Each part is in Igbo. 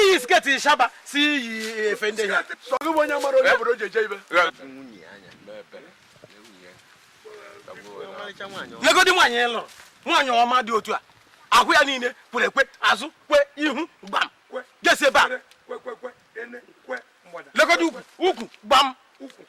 iyi sketi shaba si iyi efe ndị ya legodi nwaanyị ị lụrụ nwaanyị ọma dị otu a ahụ ya niile kwere ekwe azụ kwe ihu gbam gesi ebe a legodi ukwu ukwu gbam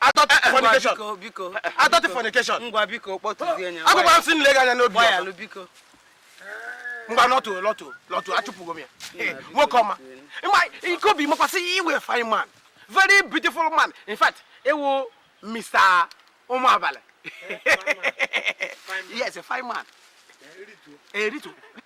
adultery, fornication biko biko adult fornication ngwa biko kpọtụzie nya agwagwa m si nle gị anya n'obi gbayalụ biko ngwa lọtụ lọtụ lọtụ achụpụgo m ya nwoke ọma ị ma Ikeobi makwa sị ị wụ fine man very beautiful man in fact ị wụ mr ụmụabalị yes a fine man eritu eh,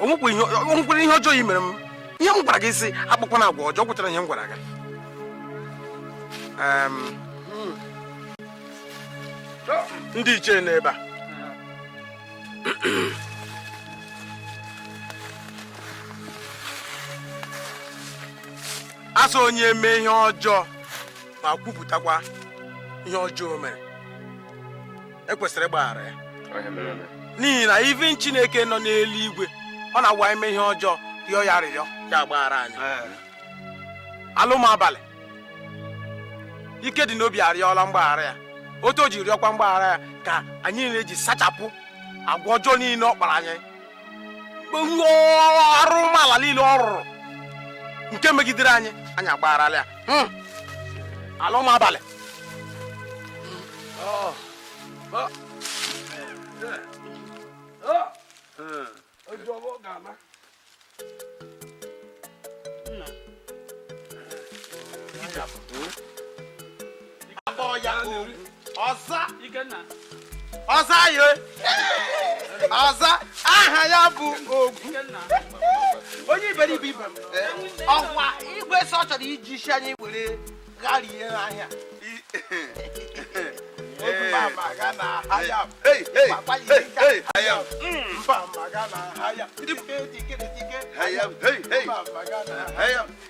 o nwekwara ihe ọjọọ i mere m ihe m gwara gị sị akpakwana agwa ọjọọ ị ghọtara ihe m gwara gị ndị ichie nọ ebe a a sị onye mee ihe ọjọọ ma kwupụtakwa ihe ọjọọ o mere e kwesịrị ịgbaghara ya n'ihi na even chineke nọ n'elu igwe ọ na-awụ anyị mee ihe ọjọọ rịọ ya rịọ ya agbaghara anyị ala ụmụabalị Ikedịn'obi arịọla mgbaghara ya otu o ji rịọkwa mgbaghara ya ka anyị na-eji sachapụ agwa ọjọọ niile ọ kpara anyị arụrụala niile ọ rụrụ nke megidere anyị anyị agbagharala ya hmm. ala ụmụabalị oh. Oh. a kpọọ ya ọ za ọ za ya ọ za aha ya bụ ogwu onye iberibe ibe m ọ kwa igwe sị ọ chọrọ iji isi anyị were gharie ahịa Hayam.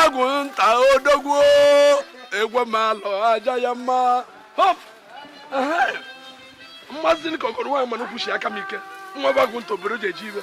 agụ nta odogwu egwe ma alọ aja ya mma mmasị ka okoro nwa mana kwụsi aka m ike nwa bagụ nta obere ji eji ibe